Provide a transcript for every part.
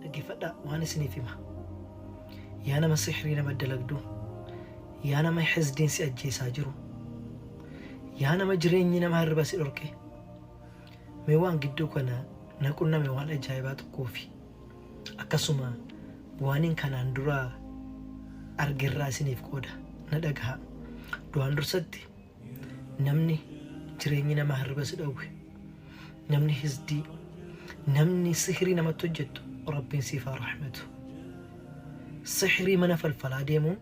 Dhaggeeffadhaa waan isiniif hima. Yaa nama sihrii nama dalagdu, yaa nama hizdiin si ajjeesaa jiru, yaa nama jireenyi nama hirriba si dhorke, mee waan gidduu kana na qunname waan ajaa'ibaa tokkoo fi akkasuma waaniin kanaan duraa argerraa isiniif qooda na dhagaha. Du'aan dursatti namni jireenyi nama hirriba si dhowwe namni hisdii namni sihrii namatti hojjettu rabbiin siif haa rahmatu sihrii mana falfalaa deemuun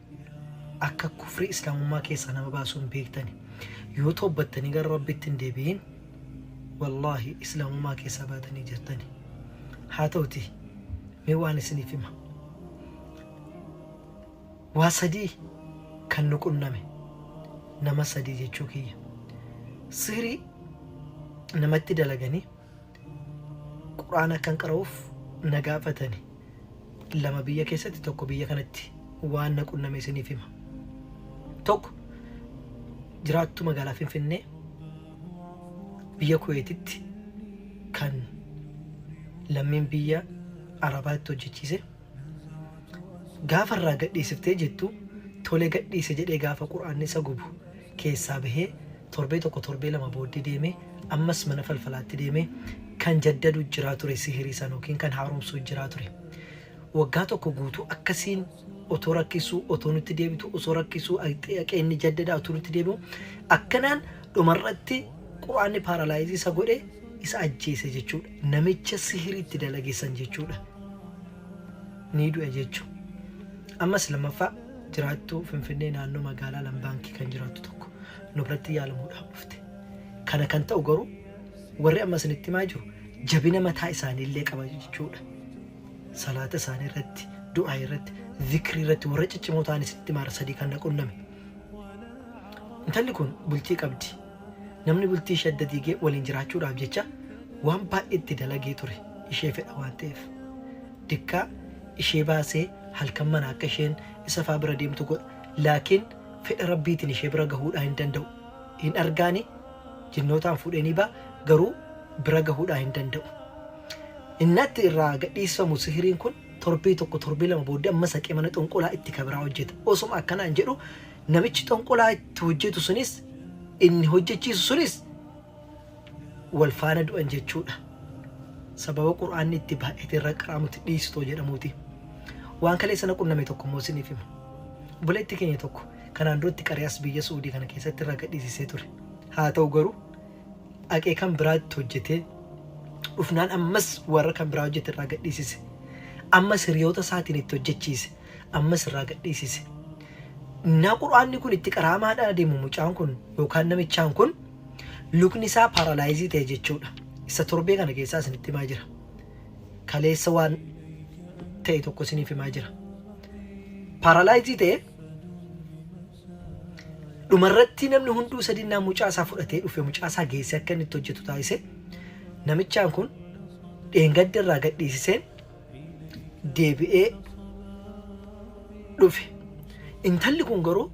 akka kufrii islaamummaa keessaa nama baasuun beektani yoo toobbattanii gara rabbitti hin deebi'in wallaahi islaamummaa keessaa baatanii jirtani haa ta'uti mee waan isiniif hima Waa sadii kan nu qunname. Nama sadii jechuu kiyya. Sihrii namatti dalaganii Qur'aana akkan qara'uuf na gaafatani. Lama biyya keessatti tokko biyya kanatti waan na qunname isiniif hima. Tokko jiraattuu magaalaa Finfinnee biyya Kuweetitti kan lammiin biyya Arabaatti hojjechiise. Gaafa irraa gadhiisiftee jettu tole gadhiise jedhee gaafa qur'aanni isa gubu keessaa bahee torbee tokko torbee lama booddee deemee ammas mana falfalaatti deemee kan jaddadu jiraa ture sihirii san yookiin kan haaromsuu jiraa ture waggaa tokko guutuu akkasiin otoo rakkisuu otoo nutti deebitu osoo rakkisuu aqeenni jaddada otoo nutti deebi'u akkanaan dhumarratti Qur'aanni paralyze isa godhe isa ajjeese jechuudha. Namicha sihiri itti dalage san jechuudha. Ni du'e jechu. Ammas lammaffaa jiraattuu Finfinnee naannoo magaalaa Lambaankii kan jiraattu tokko nu biratti yaalamuudhaaf dhufte. Kana kan ta'u garuu warri amma isinitti himaa jiru jabina mataa isaanii illee qaba jechuudha. Salaata isaanii irratti, du'aa irratti, zikrii irratti warra ciccimoo ta'an isinitti himaara sadii kan na qunname. Intalli kun bultii qabdi. Namni bultii ishee adda diigee waliin jiraachuudhaaf jecha waan baay'ee itti dalagee ture ishee fedha waan ta'eef. Dikkaa ishee baasee halkan manaa akka isheen isa faa bira deemtu godha. Laakiin fedha Rabbiitiin ishee bira gahuudhaa hin danda'u. Hin argaani jinnootaan fuudhee ni ba'a garuu bira gahuudhaa hin danda'u. Innatti irraa gadhiisfamu sihiriin kun Torbee tokko torbee lama booddee ammas haqee mana xonqolaa itti kabiraa hojjeta. Osuma akkanaan jedhu namichi xonqolaa itti hojjetu sunis inni hojjechiisu sunis wal faana du'an jechuudha. Sababa qur'aanni itti baay'ate irra qaraamutti dhiisitoo jedhamuuti. Waan kalee sana qunname tokko immoo isiniif hima. Obboleetti keenya tokko kanaan duratti qari'as biyya Suudii kana keessatti irra gadhiisisee ture. Haa ta'u garuu dhaqee kan biraa itti hojjetee dhufnaan ammas warra kan biraa hojjete irraa gadhiisise. Ammas hiriyoota isaatiin itti hojjechiise. Ammas irraa gadhiisise. Naa qur'aanni kun itti qaraamaadhaan adeemu mucaan kun yookaan namichaan kun lukni isaa paaralaayizii ta'e jechuudha. Isa torbee kana keessaa isinitti himaa jira. Kaleessa waan ta'e tokko isiniif himaa jira. Paaralaayizii ta'e Dhumarratti namni hunduu sadinnaan mucaa isaa fudhatee dhufe mucaa isaa geessee akka inni itti hojjetu taasise. Namichaan kun dheengadda irraa gadhiisiseen deebi'ee dhufe. Intalli kun garuu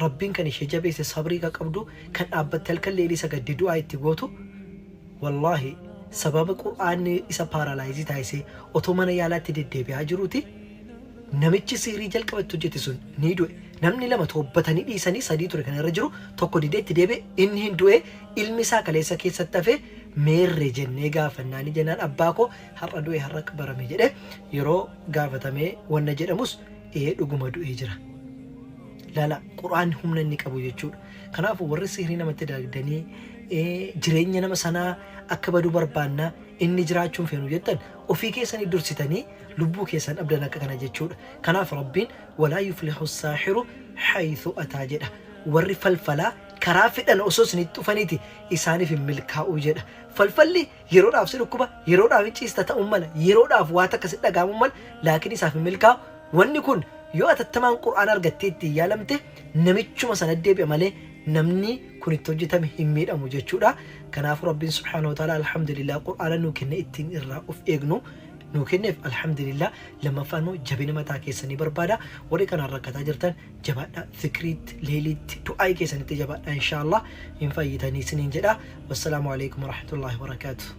rabbiin kan ishee jabeesse sabrii kan qabdu kan dhaabbatte halkan leelii sagadde du'aa itti gootu wallaahi sababa qur'aanni isa paaralaayizii taasisee otoo mana yaalaatti deddeebi'aa jiruuti Namichi sihrii jalqaba itti hojjete sun ni du'e. Namni lama toobbatanii dhiisanii sadii ture kan irra jiru, tokko didee itti deebi'e, inni hin du'e, ilmi isaa kaleessa keessatti hafe meerre jennee gaafannaa ni jennaan abbaa koo har'a du'e har'a qabarame jedhe yeroo gaafatamee wanna jedhamus ee dhuguma du'ee jira. Lala qur'aanni humna inni qabu jechuudha. Kanaafu warri sihrii namatti dalagdanii ee, jireenya nama sanaa akka badu barbaanna inni jiraachuu hin feenu jettan Ofii keessanii dursitanii lubbuu keessan dhabdan akka kana jechuudha. Kanaaf Rabbiin walaa yuflihu saahiru haythu ataa jedha. Warri falfalaa karaa fedhan osoo isinitti dhufaniiti isaaniif hin milkaa'u jedha. Falfalli yeroodhaaf si dhukkuba, yeroodhaaf hin ciista ta'uu mala, yeroodhaaf waa takka si dhaga'amuu mala, laakiin isaaf hin milkaa'u. Wanni kun yoo atattamaan Qur'aana argattee ittiin yaalamte namichuma sanatti deebi'a malee namni kun itti hojjetame hin miidhamu jechuudha. Kanaafuu Rabbiin subhaanahu wa ta'aalaa alhamdulillah Qur'aana nuu kenne ittiin irraa of eegnu nuu kenneef alhamdulillah. Lammaffaan immoo jabina mataa keessanii barbaada. Warri kanaan rakkataa jirtan jabaadhaa zikriitti, leeyliitti, du'aa'ii keessanitti jabaadhaa inshaa Allah hin fayyitanii isiniin jedha. Wassalaamu alaikum warahmatullahi wabarakaatuh.